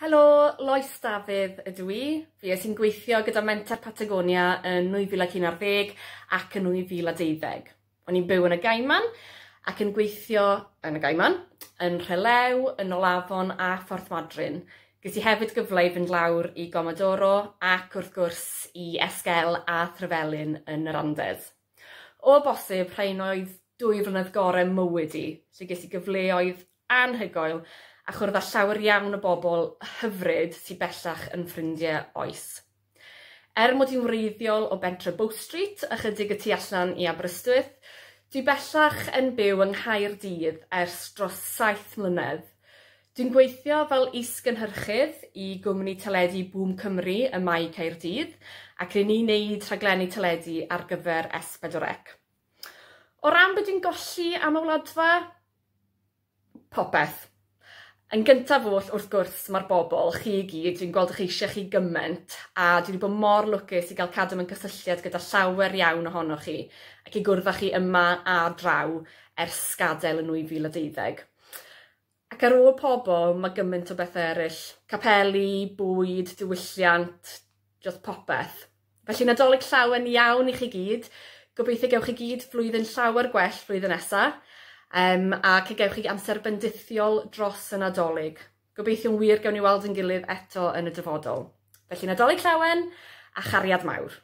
Helo, Lois Dafydd ydw i. Fi es i'n gweithio gyda Menter Patagonia yn 2011 ac yn 2012. O'n i'n byw yn y Gaiman ac yn gweithio yn y Gaiman, yn Rhelew, yn Olafon a Phorth Madryn. Ges i hefyd gyfle i fynd lawr i Gomodoro ac wrth gwrs i Esquel a Threvelin yn yr Andes. O bosib, rhain oedd dwy flynedd gore mywyd i, lle ges i gyfleoedd anhygoel a chwrdd â llawer iawn o bobl hyfryd sy bellach yn ffrindie oes. Er mod i'n wreiddiol o bentre Bow Street, ychydig y tu allan i Aberystwyth, dwi bellach yn byw yng Nghaerdydd ers dros saith mlynedd. Dwi'n gweithio fel is-gynhyrchydd i gwmni teledu Bŵm Cymru ym Mae Caerdydd ac ry'n ni'n neud rhaglenni teledu ar gyfer S4C. O ran be dwi'n golli am y Wladfa? Popeth. Yn gyntaf oll, wrth gwrs, mae'r bobl, chi i gyd, dwi'n gweld eich eisiau chi gymaint a dwi wedi bod mor lwcus i gael cadw mewn cysylltiad gyda llawer iawn ohonoch chi ac i gwrdd â chi yma a draw ers gadael yn 2012. Ac ar ôl pobl, mae gymaint o bethau eraill. Capeli, bwyd, diwylliant, just popeth. Felly Nadolig llawen iawn i chi gyd. Gobeithio gewch chi gyd flwyddyn llawer gwell flwyddyn nesa. Um, ac y gewch chi amser bendithiol dros y Nadolig. Gobeithio'n wir gewn ni weld yn gilydd eto yn y dyfodol. Felly Nadolig llawen a chariad mawr.